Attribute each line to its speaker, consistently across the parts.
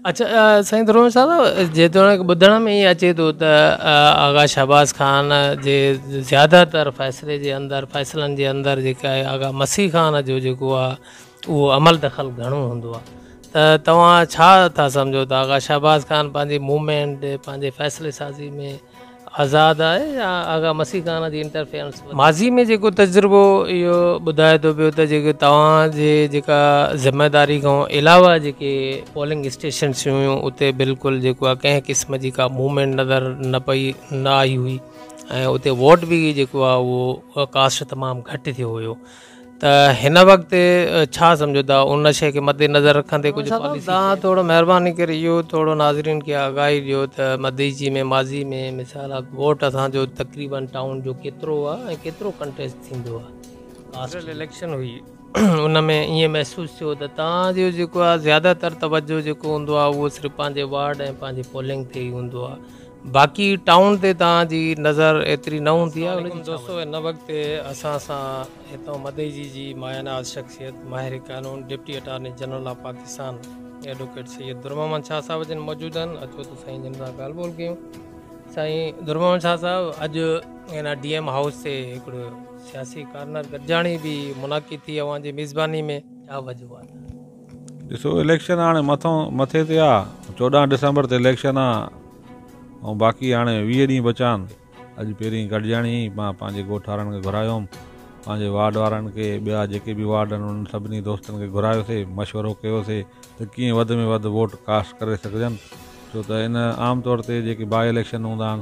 Speaker 1: اچا سائين درونش صاحب جيتوڻيڪ ٻڌڻ ۾ ائين اچي ٿو ته آغا شهباز خان جي زياده تر فيصلي جي اندر فيصلن جي اندر جيڪا آهي آغا مسيح خان جو جيڪو آهي اهو عمل دخل گهڻو هوندو آهي ته توهان ڇا ٿا سمجهو ته آغا شهباز خان پنهنجي موومينٽ پنهنجي فيصلي سازي ۾ آزاد آهي يا آغا مسيح خان جي انٽرفيئرنس ورتي. ماضي ۾ جيڪو تجربو اهو ٻڌائي ٿو پيو ته جيڪي توهان جي جيڪا ذميداري کان علاوه جيڪي پولنگ اسٽيشنس هيون اتي بلڪل جيڪو آهي ڪنهن قسم جي ڪا موومينٽ نظر نه پئي نه آئي هئي ۽ اتي ووٽ به جيڪو آهي اهو ڪاسٽ تمام گهٽ ٿيو هيو ته هن وقت ڇا سمجهو ٿا ان شيء کي مد نظر رکندي ڪجهه مولانا صاحب پاليسي تان ٿورو مهرباني ڪري اهو ٿورو ناظرين کي آگاهي ڏيو ته مديجي ۾ ماضي ۾ مثال آف ووٽ اسان جو تقريبن ٽائون جو ڪيترو هو ۽ ڪيترو ڪنٽيسٽ ٿيندو هو ڪاسٽ جنرل اليڪشن هئي ان ۾ ائين محسوس ٿيو ته تان جو جيڪو آهي زياده تر توجهه جيڪو هوندو آهي اهو صرف پنهنجي وارڊ ۽ پنهنجي پولنگ تي ئي هوندو آهي باقي ٽائون تي توهان جي نظر ايتري نه هوندي آهي ان جي ڇا وجه؟ ان وقت تي اسان سان هتان مدئجي جي مايه ناز شخصيت ماهر قانون deputy attorney general of Pakistan advocate Syed Durmuhammad Shah صاحب جن موجود آهن اچو ته سائين جن سان ڳالهه ٻولهه ڪيون سائين درمحمد شاهه صاحب اڄ ان ڊي ايم هائوس تي هڪڙو سياسي ڪارنر گڏجاڻي به منعقد ٿي اوهان جي ميزباني ۾ ڇا وجوهات ڏسو
Speaker 2: اليڪشن هاڻي مٿو مٿي تي آ چوڏهن ڊسمبر تي اليڪشن آ ۽ باقي هاڻي ويهه ڏينهن بچا آهن اڄ پهرين گڏجاڻي هئي مان پنهنجي ڳوٺ وارن کي گهرايو هوم پنهنجي وارڊ وارن کي ٻيا جيڪي به وارڊ آهن انهن سڀني دوستن کي گهرايوسي مشورو ڪيوسي ته ڪيئن وڌ ۾ وڌ ووٽ ڪاسٽ ڪري سگهجن ڇو ته هن عام طور تي جيڪي باء اليڪشن هوندا آهن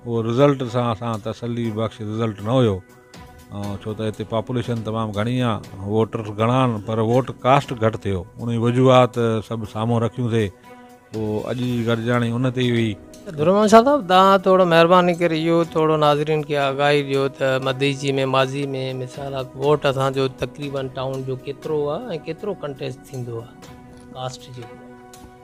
Speaker 2: اهو رزلٽ سان اسان تسلي بخش رزلٽ نه هيو ڇو ته هتي پاپوليشن تمام گهڻي آ ووٽرس گهڻا آهن پر ووٽ ڪاسٽ گهٽ ٿيو انهي وجوهات سڀ سامهون رکيون ٿي پو اڄ جي گڏجاڻي ان تي ئي هئي. درمان شاھ صاحب
Speaker 1: تان ٿورو مھرباني ڪري اھو ٿورو ناظرين کي آگاھي ڏيو ته مديجي ۾ ماضي ۾ مثال اھڪ ووٽ اسان جو تقريبن ٽائون جو ڪيترو ھو ۽ ڪيترو ڪنٽيسٽ ٿيندو ھو ڪاسٽ جو.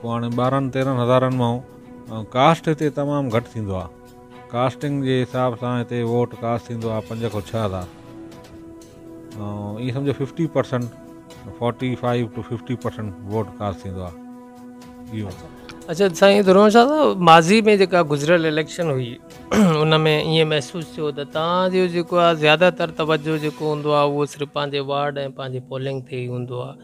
Speaker 2: پوء هاڻي ٻارهن تيرهن هزارن مان ڪاسٽ هتي تمام گهٽ ٿيندو آهي ڪاسٽنگ جي حساب سان هتي ووٽ ڪاسٽ ٿيندو آهي پنج کان ڇهه هزار ائين سمجھو fifty percent forty five to fifty percent vote cast ٿيندو آهي اهو اچھا سائين
Speaker 1: درون شاهه صاحب ماضي ۾ جيڪا گذريل اليڪشن هئي ان ۾ ائين محسوس ٿيو ته تان جو جيڪو آهي زياده تر توجه جيڪو هوندو آهي اهو صرف پنهنجي وارڊ ۽ پنهنجي پولنگ تي ئي هوندو آهي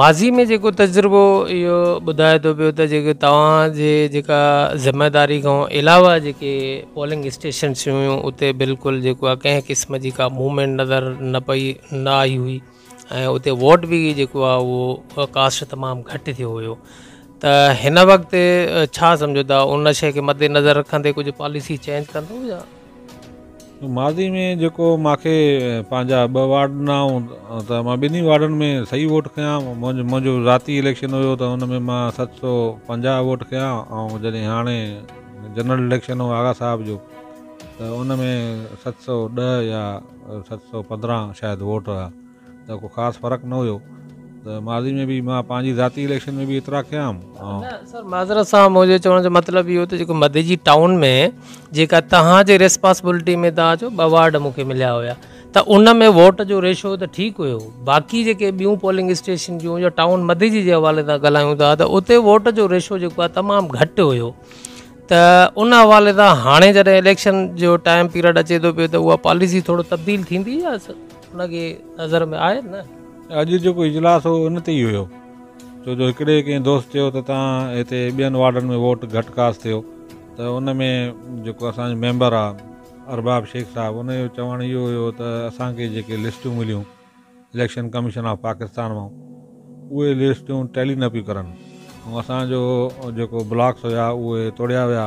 Speaker 2: ماضي ۾ جيڪو
Speaker 1: تجربو اهو ٻڌائي ٿو پيو ته جيڪي توهان جي جيڪا ذميواري کان علاوه جيڪي پولنگ اسٽيشنس هيون اتي بلڪل جيڪو آهي ڪنهن قسم جي ڪا موومينٽ نظر نه پئي نه آئي هئي ۽ اتي ووٽ به جيڪو آهي اهو ڪاسٽ تمام گهٽ ٿيو هيو ته هن وقت ڇا سمجهو ٿا ان شي کي مد نظر رکندي ڪجهه پاليسي چينج ڪندو يا
Speaker 2: ماضي ۾ جيڪو مان کي پنهنجا ٻه وارڊ ڏنا هئون ته مان ٻنهي وارڊن ۾ صحيح ووٽ کنيا هئا منهنجو ذاتي اليڪشن هيو ته ان ۾ مان ست سو پنجاهه ووٽ کنيا ۽ جڏهن هاڻي جنرل اليڪشن هو آغا صاحب جو ته ان ۾ ست سو ڏهه يا ست سو پندرهن شايد ووٽ هئا ته ڪو خاص فرق نه هيو ته ماضي ۾ به مان پنهنجي ذاتي اليڪشن ۾ به ايترا کيا هيم نه سر
Speaker 1: معذرت سان منهنجي چوڻ جو مطلب اهو ته جيڪو مدي جي ٽائون ۾ جيڪا توهان جي ريسپاسبلٽي ۾ توهان جو ٻه وارڊ مون کي مليا هيا ته ان ۾ ووٽ جو ريشو ته ٺيڪ هيو باقي جيڪي ٻيون پولنگ اسٽيشن جون يا ٽائون مدي جي جي حوالي سان ڳالهايون ٿا ته اتي ووٽ جو ريشو جيڪو آهي تمام گهٽ هيو ته ان حوالي سان هاڻي جڏهن اليڪشن جو ٽائم پيريڊ اچي ٿو پيو ته اها پاليسي ٿورو تبديل ٿيندي يا ان کي نظر ۾ آهي نه. اڄ جيڪو اجلاس
Speaker 2: هو ان تي ئي هيو ڇو جو هڪڙي ڪنهن دوست چيو ته تان هتي ٻين وارڊن ۾ ووٽ گهٽ ڪاسٽ ٿيو ته ان ۾ جيڪو اسان جو ميمبر آ ارباب شيخ صاحب ان جو چوڻ اهو هيو ته اسان کي جيڪي لسٽون مليون اليڪشن ڪميشن آف پاڪستان مان اهي لسٽون ٽيلي نه پيون ڪرن ۽ اسان جو جيڪو بلاڪس هيا اهي توڙيا ويا.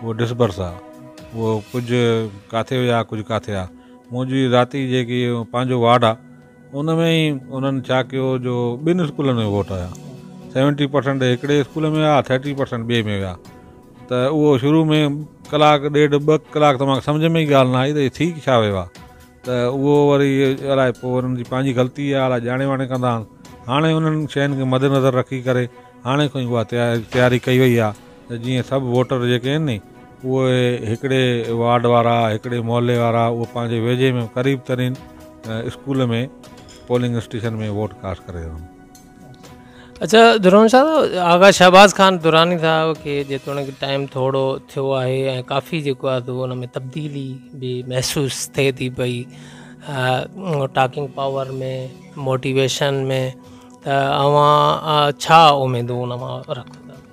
Speaker 2: اهو ڏس برس آ، اهو ڪجهه ڪاٿي هيا ۽ ڪجهه ڪاٿي آ. منهنجي ذاتي جيڪي پنهنجو وارڊ آ، ان ۾ ئي انهن ڇا ڪيو جو ٻن اسڪولن ۾ ووٽ هيا. سيونٽي پرسنٽ هڪڙي اسڪول ۾ هيا، ٿرٽي پرسنٽ ٻئي ۾ هيا ته اهو شروع ۾ ڪلاڪ ڏيڍ ٻه ڪلاڪ ته مان کي سمجهه ۾ ئي ڳالهه نه آئي ته هي ٿي ڇا ويو آ ته اهو وري الائي پوء انهن جي پنهنجي غلطي آ، الائي ڄاڻي واڻي ڪندا آهن. هاڻي انهن شين کي مدنظر رکي ڪري هاڻي کان ئي اها تياري ڪئي وئي آ. ته جيئن سڀ ووٽر جيڪي آهن ني اهي هڪڙي وارڊ وارا هڪڙي محلي وارا اهي پنهنجي ويجهي ۾ قريب ترين school ۾ polling station ۾ vote cast ڪري رهن
Speaker 1: اچھا درون صاحب آغا شهباز خان دراني صاحب کي جيتوڻيڪ ٽائيم ٿورو ٿيو آهي ۽ ڪافي جيڪو آهي سو ان ۾ تبديلي به محسوس ٿئي ٿي پئي ٽاڪنگ پاور ۾ موٽيويشن ۾ ته اوهان ڇا اميدون ان مان رکو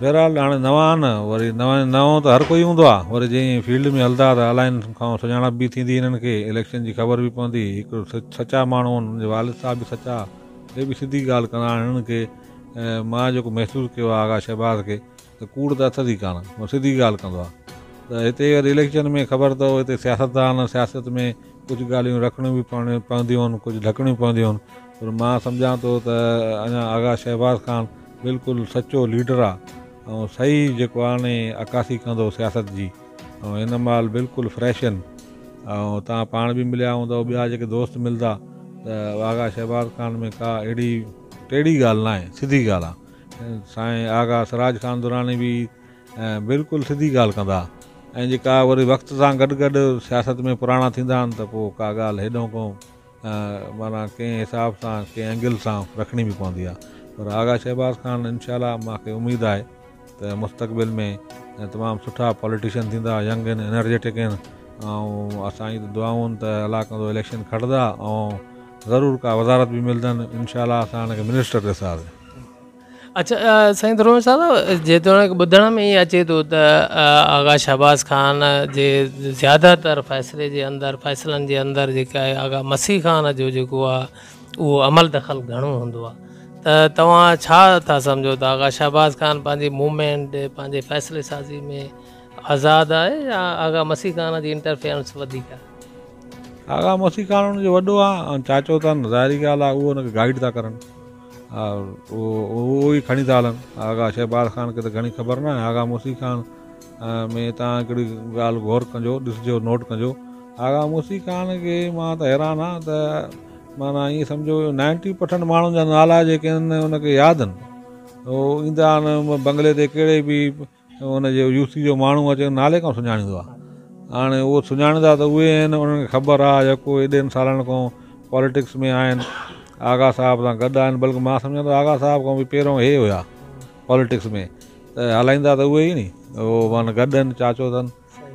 Speaker 2: بهرحال هاڻي نوان نه وري نوان نئون ته هر ڪوئي هوندو آهي وري جي ائين فيلڊ ۾ هلندا ته الائن کان سڃاڻپ به ٿيندي هنن کي اليڪشن جي خبر به پوندي هڪ سچا ماڻهو آهن هنن جي والد صاحب به سچا هي به سڌي ڳالهه ڪندا آهن هنن کي مان جيڪو محسوس ڪيو آهي آغا شهباز کي ته ڪوڙ ته اٿس ئي ڪانه هو سڌي ڳالهه ڪندو آهي ته هتي وري اليڪشن ۾ خبر اٿو هتي سياستدان سياست ۾ ڪجهه ڳالهيون رکڻيون به پونديون آهن ڪجهه ڍڪڻيون پونديون آهن پر مان سمجهان ٿو ته اڃا آغا شهباز خان بلڪل سچو ليڊر آ ۽ صحيح جيڪو آڻي عڪاسي ڪندو سياست جي ۽ هن مهل بلڪل فريش ان ۽ توهان پاڻ به مليا هوندا ٻيا جيڪي دوست ملدا ته آغا شهباز خان ۾ ڪا اهڙي ٽيڙي ڳالهه ناهي سڌي ڳالهه آ سائين آغا سراج خان دراني به بلڪل سڌي ڳالهه ڪندا ۽ جيڪا وري وقت سان گڏ گڏ سياست ۾ پراڻا ٿيندا ان ته پو ڪا ڳالهه هيڏو ڪو معنيٰ ڪنهن حساب سان ڪنهن اينگل سان رکڻي به پوندي آهي پر آغا شهباز خان انشاء الله مان کي اميد آهي ته مستقبل ۾ تمام سٺا پاليٽيشن ٿيندا ينگ آهن انرجيٽڪ آهن ۽ اسان جي ته دعائون آهن ته الله ڪندو اليڪشن کٽدا ۽ ضرور ڪا وزارت به ملندن انشاء الله اسان هن کي منسٽر ڏسنداسين اچا
Speaker 1: سائين ڌرون صاحب جيتوڻيڪ ٻڌڻ ۾ ائين اچي ٿو ته آغا شهباز خان جي زياده تر فيصلي جي اندر فيصلن جي اندر جيڪا آهي آغا مسيح خان جو جيڪو آهي اهو عمل دخل گهڻو هوندو آهي ته توهان ڇا ٿا سمجهو ته آغا شهباز خان پنهنجي موومينٽ پنهنجي فيصلي سازي ۾ آزاد آهي يا آغا مسيح خان جي انٽرفيئرنس وڌيڪ آهي آغا
Speaker 2: مسيح خان ان جو وڏو آهي ۽ چاچو اٿن ظاهري ڳالهه آهي اهو ان کي گائيڊ ٿا ڪرن اهو ئي کڻي ٿا هلن. آغا شهباز خان کي ته گهڻي خبر ناهي. آغا موسي خان ۾ توهان هڪڙي ڳالهه غور ڪنجو، ڏسجو، نوٽ ڪنجو. آغا موسي خان کي مان ته حيران آهيان ته معنيٰ ائين سمجهو جو نائنٽي پرسنٽ ماڻهن جا نالا جيڪي آهن ان کي ياد آهن. هو ايندا آهن بنگلي تي ڪهڙي به ان جي يوسي جو ماڻهو اچي نالي کان سڃاڻيندو آهي. هاڻي اهو سڃاڻيندا ته اهي آهن انهن کي خبر آهي جيڪو ايڏن سالن کان پاليٽڪس ۾ آهن آغا صاحب سان گڏ آهن بلڪ مان سمجهان ٿو آغا صاحب کان به پهريون اهي هيا پاليٽڪس ۾ ته هلائيندا ته اهي ئي ني اهو معنيٰ گڏ آهن چاچو اٿن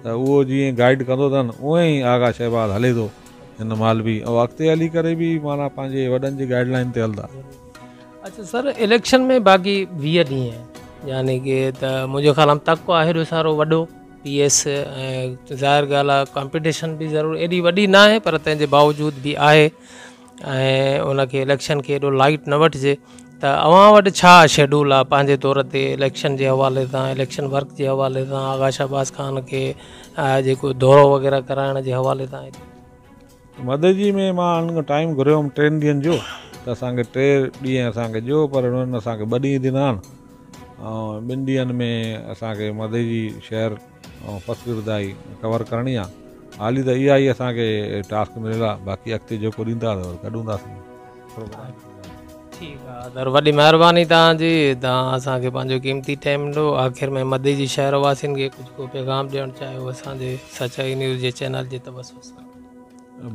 Speaker 2: ته اهو جيئن گائيڊ ڪندو اٿن اونئن ئي آغا شهباز هلي ٿو هن مهل به او اڳتي هلي ڪري به معنيٰ پنهنجي وڏن جي گائيڊ لائن تي هلندا اچھا سر
Speaker 1: اليڪشن ۾ باقي ويهه ڏينهن يعني ڪي ته منهنجو خيال آم تڪو آهي جو سارو وڏو پي ايس ظاهر ڳالهه آهي ڪامپيٽيشن به ضرور ايڏي وڏي ناهي پر تنهنجي باوجود به آهي ۽ ان کي اليڪشن کي ايڏو لائيٽ نه وٺجي ته اوهان وٽ ڇا شيڊول آهي پنهنجي طور تي اليڪشن جي حوالي سان اليڪشن ورڪ جي حوالي سان آغا شهباز خان کي جيڪو دورو وغيره ڪرائڻ جي حوالي سان مددي
Speaker 2: ۾ مان ان کان ٽائيم گهريو هيم ٽن ڏينهن جو ته اسان کي ٽي ڏينهن اسان کي ڏيو پر انهن اسان کي ٻه ڏينهن ڏنا آهن ٻن ڏينهن ۾ اسان کي مدئي شهر پسگردائي ڪور ڪرڻي آ حالي ته اها ئي اسان کي ٽاسڪ مليل آ باقي اڳتي جيڪو ڏيندا ته ڪڍون ٿاسين پروگرام. ٺيڪ
Speaker 1: آ در وڏي مهرباني توهان جي توهان اسان کي پنهنجو قيمتي ٽائيم ڏنو آخر ۾ مدي جي شهر واسين کي ڪجهه ڪو پيغام ڏيڻ چاهيو اسان جي سچائي نيوز جي چينل جي توسط سان.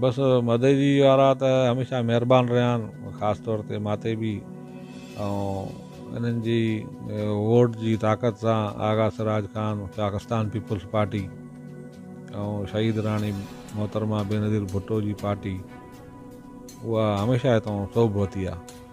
Speaker 1: بس
Speaker 2: مدئجي وارا ته هميشه مهربان رهيا آهن خاص طور تي ماتي بي ۽ انهن جي ووٽ جي طاقت سان آغا سراج خان پاڪستان پيپلز پارٽي ۽ شهيد راڻي محترمه بينظير ڀٽو جي پارٽي اها هميشه هتان سوڀ وتي آهي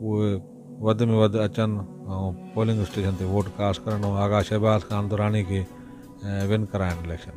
Speaker 2: اهي وڌ ۾ وڌ اچن ۽ پولنگ اسٽيشن تي ووٽ ڪاسٽ ڪرن ۽ آغا شهباز خان دراني کي ون ڪرائن اليڪشن.